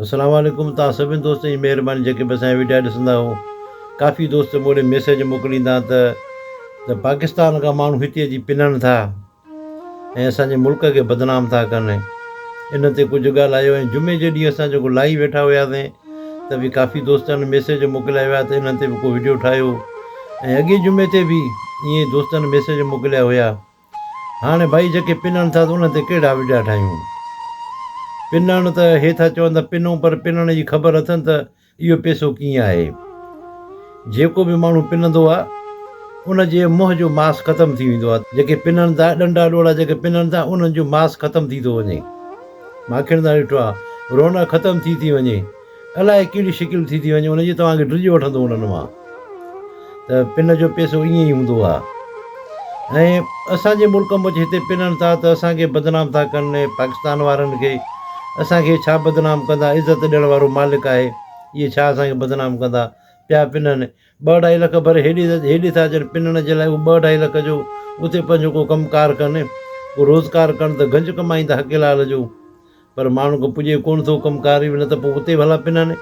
السلام عليڪم توهان سڀني دوستن جي مهرباني جيڪي به اسان جا وڊيا ڏسندا آهيو ڪافي دوست مون ڏي ميسيج موڪليندا ته ته پاڪستان کان ماڻهو هتي اچي پنڻ ٿا ۽ اسانجي ملڪ کي بدنام ٿا ڪن ان تي ڪجهه ڳالهايو ۽ جمعي جي ڏينهن اسان جيڪو لائيو ويٺا هياسي ته به ڪافي دوستن ميسيج موڪليا هيا ته انهن تي به ڪو وڊيو ٺاهيو ۽ اڳي جمعي تي به ائين دوستن ميسيج موڪليا هيا هاڻي ڀائي جيڪي پنڻ ٿا ته انهن تي ڪهڙا وڊيا ٺاهيون. پنڻ ته هي ٿا چون ته پنون پر پنڻ جي خبر اٿن ته اهو پيسو ڪيئن آهي. جيڪو به ماڻهو پنندو آ ان جي منهن جو ماس ختم ٿي ويندو آ. جيڪي پنڻ ٿا ڏنڊا ڏوڙا جيڪي پنڻ ٿا انهن جو ماس ختم ٿي ٿو وڃي. ماکڻ ٿا ڏٺو آ رونق ختم ٿي ٿي وڃي. الاء ڪهڙي شڪل ٿي ٿي وڃي ان جي توهان کي ڊڄ وٺندو انهن مان ته پن جو پيسو ائين ئي هوندو آ ۽ اسان جي ملڪ مچ هتي پنن ٿا ته اسان کي بدنام ٿا ڪن اهي پاڪستان وارن کي اسان کي ڇا بدنام ڪندا عزت ڏيڻ وارو مالڪ آهي اهي ڇا اسان کي بدنام ڪندا پيا پنن ٻه اڍائي لک ڀري هيڏي ٿا اچن پنڻ جي لاء اهو ٻه اڍائي لک جو اتي پنهنجو ڪو ڪم ڪار ڪن ڪو روزگار ڪن ته گنج ڪمائيندا حقي لال جو پر ماڻهن کي پڄي ڪونه ٿو ڪم ڪار ئي نه ته پوء اتي به هلا پنڻ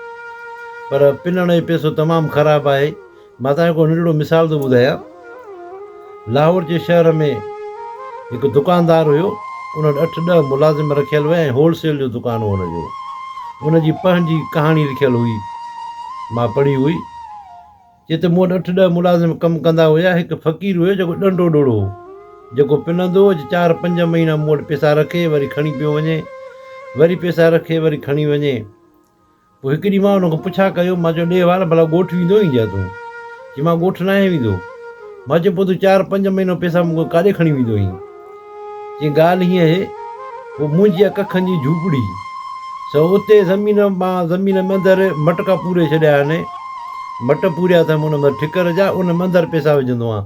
پر پنڻ جو پئسو تمام خراب آهي مان تنهنجو هڪڙو ننڍڙو مثال ٿو ٻڌايان لاهور جي شهر ۾ هڪ دڪاندار هيو، ان وٽ اٺ ڏهه ملازم رکيل هئا ۽ هول سيل جو دڪان هو هن جو. ان جي پنهن جي ڪهاڻي لکيل هئي، مان پڙهي هئي. چي ته مون وٽ اٺ ڏهه ملازم ڪم ڪندا هيا، هڪ فقير هيو جيڪو ڏنڊو ڏڙو هو، جيڪو پنندو هو ته چار پنج مهينا مون وٽ پيسا رکي وري کڻي پيو وڃي، وري پيسا رکي وري کڻي وڃي. پوء هڪ ڏينهن مان ان کان پڇا ڪيو، مان چيو ڏيه وال ڀلا ڳوٺ ويندو آهين ڇا تون؟ چي مان ڳوٺ ناهيان ويندو. مان چيو پوء تون چار پنج مهينا پئسا مون کان ڪاڏي کڻي ويندو آهين؟ چي ڳالهه هيئن اهي پوء منهنجي اها ڪکن جي جهوپڙي سو اتي زمين مان زمين ۾ اندر مٽڪا پوري ڇڏيا آهن، مٽ پوريا اٿم ان ۾ ٺڪر جا ان ۾ اندر پئسا وجهندو آهيان.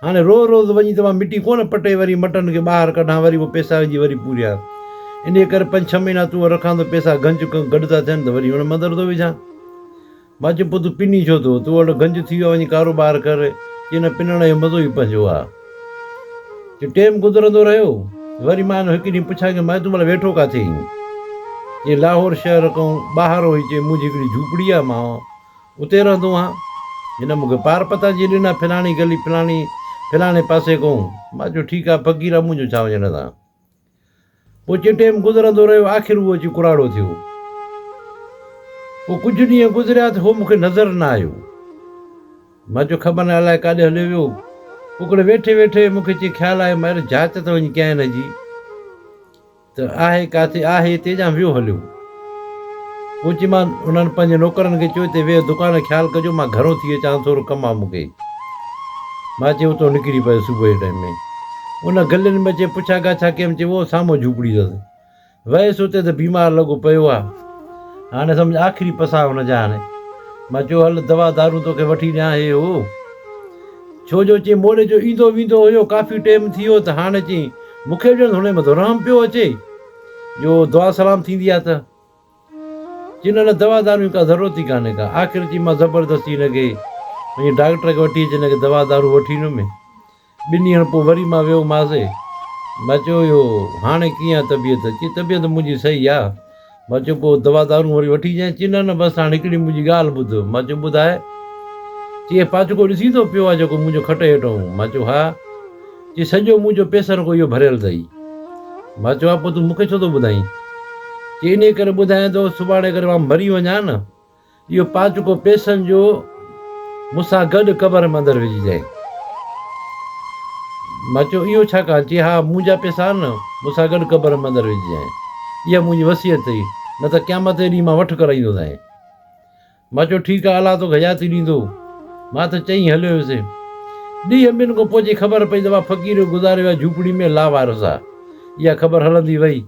هاڻي روز روز وڃي ته مان مٽي ڪونه پٽي وري مٽن کي ٻاهر ڪڍان وري اهي پيسا وجهي وري پورهيان انهيء ڪري پنج ڇهه مهينا تون وٽ رکان ته پيسا گنج گڏ ٿا ٿين ته وري ان ۾ اندر ٿو وجهان. مان چيم پوء تون پني ڇو ٿو؟ تون وٽ گنج ٿي ويو آهي وڃي ڪاروبار ڪر. چي نه پنڻ جو مزو ئي پنهنجو آهي. چي ٽيم گذرندو رهيو وري مان هن هڪ ڏينهن پڇيان ڪيم مائي تون ڀلا ويٺو ڪاٿي آهين؟ چي لاهور شهر کان ٻاهر هئي چي منهنجي هڪڙي جهوپڙي آهي مان اتي رهندو آهان؟ هن مون کي پار پتا جي ڏنا، فلاڻي گلي فلاڻي فلاڻي پاسي ڪون. مان چيو ٺيڪ آهي فقيرا مون جو ڇا وڃڻ تان. پوء چي ٽيم گذرندو رهيو آخر هو اچي ڪراڙو ٿيو. پوء ڪجهه ڏينهن گذريا ته هو مون کي نظر نه آيو. مان چيو خبر نه الائي ڪاڏي هليو ويو. پوء ڪڙي ويٺي ويٺي مون کي چي خيال آيو مان اهڙي جهاچ ته وڃي ڪيائين نه جي. ته آهي ڪاٿي آهي هتي جا ويهو هليو. پوء چيمان انهن پنهنجي نوڪرن کي چيو هتي ويهه دڪان خيال ڪجو مان گهرو ٿي اچان ٿورو ڪم آ مون کي. مان چي اتو نڪري پئي صبح جي ٽائيم ۾ ان گلين ۾ اچي پڇا ڳاڇا ڪيم چي وو سامهون جهوپڙي اٿس ويس اتي ته بيمار لڳو پيو آ هاڻي سمجهه آخري پساهه ان جا هاڻي مان چيو هل دوا دارون توکي وٺي ڏيان هي هو ڇو جو چي موڙي جو ايندو ويندو هيو ڪافي ٽيم ٿي ويو ته هاڻي چي مون کي به ڄڻ ھنن مان ڌرام پيو اچي جو دعا سلام ٿيندي آھي ته چين ان دوا دارو جي ڪا ضرورت ئي ڪانھي ڪا آخر چين مان زبردستي ھن کي پنھنجي ڊاڪٽر کي وٺي اچي ھن کي دوا دارو وٺي ڏنو مين ٻن ڏينھن پوء وري مان ويو ماس مان چيو اھو ھاڻي ڪيئن آھي طبيعت چي طبيعت منھنجي صحيح آھي مان چيو پوء دوا دارون وري وٺي جانء، چي نه نه بس هاڻ هڪڙي منهنجي ڳالهه ٻڌ، مان چيو ٻڌاء، چي اهي پاڇڪو ڏسين ٿو پيو آ جيڪو منهنجو کٽ هيٺ هنئون، مان چيو ها، چي سڄو منهنجو پيسرڪو اهو ڀريل اٿئي، مان چيو ها پوء تون مون کي ڇو ٿو ٻڌائين، چي انهي ڪري ٻڌايان ٿو سڀاڻي اگر مان مري وڃان نه. اهو پاٽڪو پيسن جو مون سان گڏ قبر ۾ اندر وجهي جانء. مان چيو اهو ڇا ڪان؟ چي ها منهنجا پيسا آهن نه، مون سان گڏ قبر ۾ اندر وجهي جانء. اها منهنجي وصيت اٿئي، نه ته قيامت جي ڏينهن مان وٺ ڪرائيندو سانء. مان چيو ٺيڪ آهي الله توکي حياتي ڏيندو. مان ته چئي هليو ويس. ڏينهن ٻن کان پوء جي خبر پئي ته اها فقير جو گذاريو ويا جهوپڙي ۾ لاوارث آ. اها خبر هلندي وئي.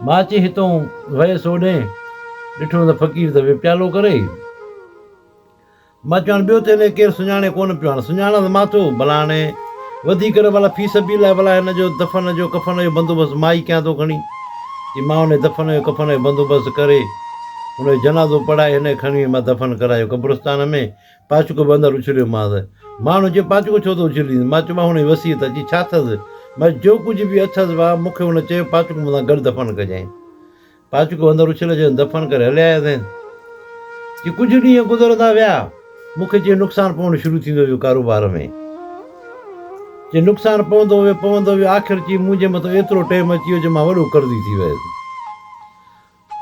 ماچي هتئون ويس اوڏهين، ڏٺو ته فقير ته ويپيالو ڪري ئي. ماچي هاڻ ٻيو ٿي نه ڪير سڃاڻي ڪونه پيو، هاڻ سڃاڻس مان ٿو، ڀلا هاڻي وڌي ڪر ڀلا في سبيل الله ڀلا هن جو دفن جو ڪفن جو بندوبست مان ئي ڪيان ٿو کڻي. چي مان ان جي دفن جو ڪفن جو بندوبست ڪري، ان جو جنازو پڙهائي هن کي کڻي وڃي مان دفن ڪرايو قبرستان ۾. پاچڪو به اندر اڇليومانس. ماڻهن چيو، پاچڪو ڇو ٿو اڇلين؟ مان چيومانس، هن جي وصيت اچي ڇا اٿس؟ مگر جو ڪجهه به اٿس وا مون کي هن چيو، پاچڪو مون سان گڏ دفن ڪجانء. پاچڪو اندر اڇليو جنس دفن ڪري هلي آياسين. جي ڪجهه ڏينهن گذرندا ويا، مون کي جي نقصان پوڻ شروع ٿيندو ويو ڪاروبار ۾. جي نقصان پوندو ويو پوندو ويو آخر چي منهنجي مٿو ايترو ٽيم اچي ويو جو مان وڏو قرضي ٿي ويس.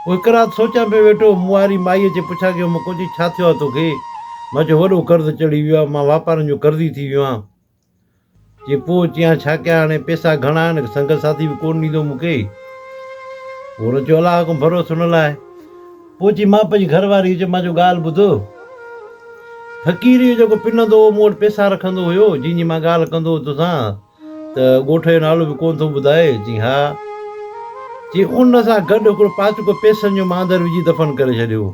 پوء هڪ رات سوچيان پيو ويٺو، مون واري مائيء جي پڇا ڪيو هوم ڪو چي ڇا ٿيو آهي توکي؟ مان چيو وڏو قرض چڙهي ويو آهي، مان واپارن جو قرضي ٿي ويو آهيان. چي پوء چيان ڇا ڪيان هاڻي پيسا گهڻا آهن هڪ سنگت ساٿي به ڪونه ڏيندو مون کي. پوء هن چيو الله حڪم ڀروس هن لاء. پوء چي مان پنهنجي گهر واري کي چيم مان چيو ڳالهه ٻڌ فقيريء جو جيڪو پنندو هو مون وٽ پيسا رکندو هيو جنهن جي مان ڳالهه ڪندو هو توسان، ته ڳوٺ جو نالو به ڪونه ٿو ٻڌائي؟ چيائين، ها. چيائين، ان سان گڏ هڪڙو پاسڪو پيسن جو ماندر وجهي دفن ڪري ڇڏيو.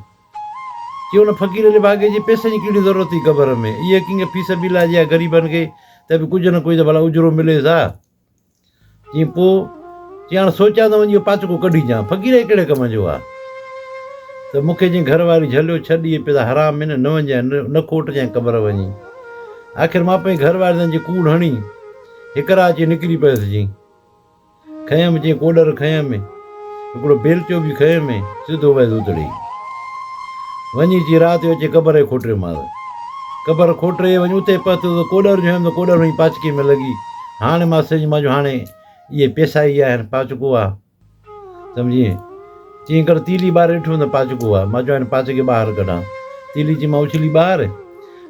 چيائين، ان فقير علي ڀاڳي جي پيسن جي ڪهڙي ضرورت هئي قبر ۾؟ اهي ڪنگ في سبيل الله جي ها غريبن کي ته به ڪجهه نه ڪجهه ته ڀلا اجرو مليس ها. چيائين، پوء؟ چيائين، هاڻ سوچيان ته وڃي اهو پاسڪو ڪڍيجان. فقير هي ڪهڙي ڪم جو ها؟ ته مون کي جنهن گهر واري جهليو، ڇڏ اهي پيسا حرام هن، نه وڃجانء، نه کوٽجانء قبر وڃي. آخر مان پنهنجي گهر واري جي ڪوڙ هڻي هڪ راهه اچي نڪري پيس جي کنيم جي ڪوڏر کنيم هڪڙو بيلچو به کنيم سڌو ويس اتڙي وڃي جي رات جو اچي قبر کي کوٽريو مال قبر کوٽري وڃي اتي پهتو ته ڪوڏر جو هيم ته ڪوڏر وڃي پاچڪي ۾ لڳي هاڻي مان سج مان جو هاڻي اهي پيسا ئي آهن پاچڪو آ سمجهين؟ چيائين ڪر تيلي ٻار رٺ هوند پاچڪو آ، مان چيو هن پاچ کي ٻاهر ڪڍان. تيلي چيائين مان اڇلي ٻاهر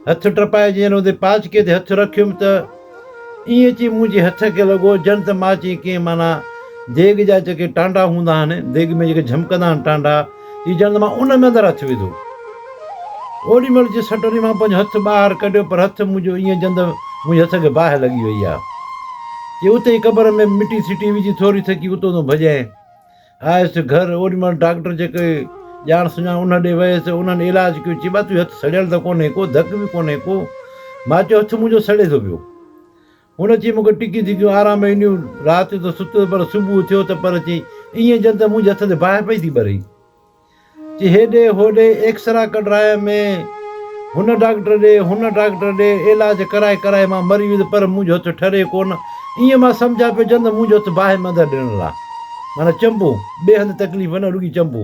هٿ ٽپائي جئين هوندي پاچڪي تي هٿ رکيم ته ائين چئي منهنجي هٿ کي لڳو ڄڻ ته مان چئين ڪئين معنيٰ ديڳ جا جيڪي ٽانڊا هوندا آهن، ديڳ ۾ جيڪي جهمڪندا آهن ٽانڊا، جي جند مان ان ۾ اندر هٿ وڌو. اوڏي مهل جي سٽوري مان پنهنجو هٿ ٻاهر ڪڍيو پر هٿ منهنجو ائين جند منهنجي هٿ کي باهه لڳي وئي آ. جي اتي ئي قبر ۾ مٽي سٽي وجهي ٿوري ٿڪي اتو تون ڀڄين. آيس گهر اوڏي مهل ڊاڪٽر جيڪي ڄاڻ سڃاڻ انهن ڏي ويس انهن علاج ڪيو چي ٻا تنهنجو هٿ سڙيل ته ڪونهي ڪو ڌڪ به ڪونهي ڪو ماچيو هٿ منهنجو سڙي ٿو پيو. هن اچي مون کي ٽڪيون ڌڪيون آرام ۾ ڏنيون. رات جو ته ستس پر صبح اٿيو ته پر چيائين ائين ڄڻ ته منهنجي هٿ تي باهه پئي ٿي ٻري. چي هيڏي هوڏي ايڪسرا ڪڍرايم ۾ هن ڊاڪٽر ڏي هن ڊاڪٽر ڏي علاج ڪرائي ڪرائي مان مري ويس پر منهنجو هٿ ٺري ڪو نه. ائين مان سمجهان پيو ڄڻ ته منهنجو هٿ باهه ۾ اندر ڏيڻ لا معنيٰ چنبو. ٻئي هنڌ تڪليف نه رڳي چنبو.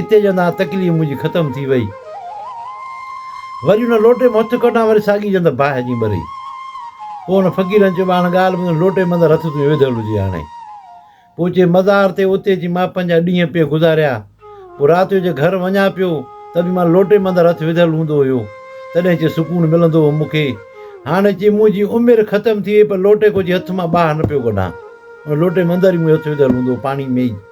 اتي جنت آ تڪليف منهنجي ختم ٿي وئي وري ان لوٽي مان هٿ ڪڍان وري ساڳي جنت باهه جي ٻري پوء ان فقيرن چيو هاڻ ڳالهه ٻڌ لوٽي مندر هٿ تنهنجو وڌل هجي هاڻي پوء چي مزار تي اتي اچي مان پنهنجا ڏينهن پئي گذاريا پوء رات جو جي گهر وڃان پيو ته به مان لوٽي مندر هٿ وڌل هوندو هيو تڏهن چي سڪون ملندو هو مون کي هاڻي چي منهنجي عمر ختم ٿي وئي پر لوٽي ڪو جي هٿ مان باهه نه پيو ڪڍان ان لوٽي مندر ئي منهنجو هٿ وڌل هوندو هو پاڻي ۾ ئي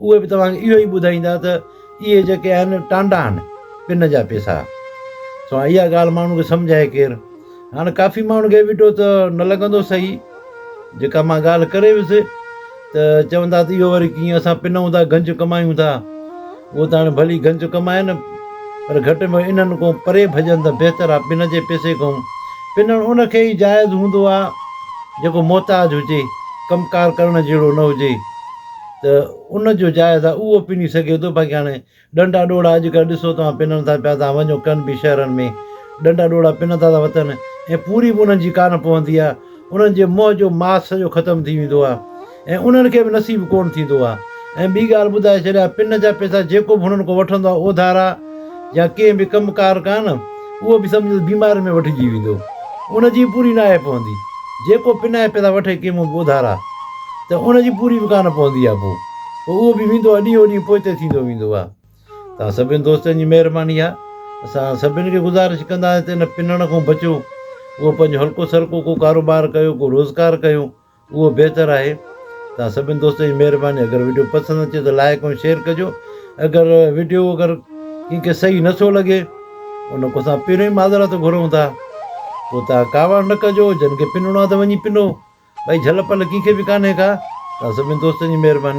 اهي به توهان کي اهو ئي ٻڌائيندا ته اهي جيڪي آهن ٽانڊا آهن پن جا پيسا. سو هاڻ اها ڳالهه ماڻهن کي سمجهائي ڪير؟ هاڻ ڪافي ماڻهن کي ويٽو ته نه لڳندو صحيح جيڪا مان ڳالهه ڪري ويس ته چوندا ته اهو وري ڪيئن اسان پن هوندا گنج ڪمايون ٿا اهو ته هاڻي ڀلي گنج ڪمائن پر گهٽ ۾ انهن کان پري ڀڄن ته بهتر آهي پن جي پيسي کان پنڻ ان کي ئي جائز هوندو آهي جيڪو محتاج هجي ڪم ڪار ڪرڻ جهڙو نه هجي. ته ان جو جائزه اهو پني سگهي ٿو باقي هاڻي ڏنڊا ڏوڙا اڄ ڪلهه ڏسو توهان پنن ٿا پيا توهان وڃو ڪن به شهرن ۾ ڏنڊا ڏوڙا پنن ٿا ٿا وتن ۽ پوري به انهن جي ڪانه پوندي آهي انهن جي منهن جو ماس سڄو ختم ٿي ويندو آهي ۽ انهن کي به نصيب ڪونه ٿيندو آهي ۽ ٻي ڳالهه ٻڌائي ڇڏيا پن جا پيسا جيڪو به هنن کان وٺندو آهي اوڌارا يا ڪنهن به ڪم ڪار ڪان، اهو به سمجهه ته بيماري ۾ وٺجي ويندو. ان جي پوري ناهي پوندي. جيڪو پناهي پيسا وٺي ڪنهن منهن به اڌارا، ته ان جي پوري به ڪانه پوندي آ پوء اهو به ويندو آ، ڏينهون ڏينهن پوئتي ٿيندو ويندو آ. توهان سڀني دوستن جي مهرباني آ. اسان سڀني کي گذارش ڪنداسين ته ان پنڻ کان بچو. اهو پنهنجو هلڪو سلڪو ڪو ڪاروبار ڪيو، ڪو روزگار ڪيو. اهو بهتر آهي توهان سڀني دوستن جي مهرباني اگر وڊيو پسند اچي ته لائڪ ۽ شيئر ڪجو اگر وڊيو اگر ڪنهن کي صحيح نه ٿو لڳي ان کان اسان پهريون ئي معذرت گهرون ٿا پوء تان ڪاوڙ نه ڪجو جن کي پنڻو آهي ته وڃي پنڻو ڀئي جهل پل ڪنهن کي به ڪانهي ڪا توهان سڀني دوستن جي مهرباني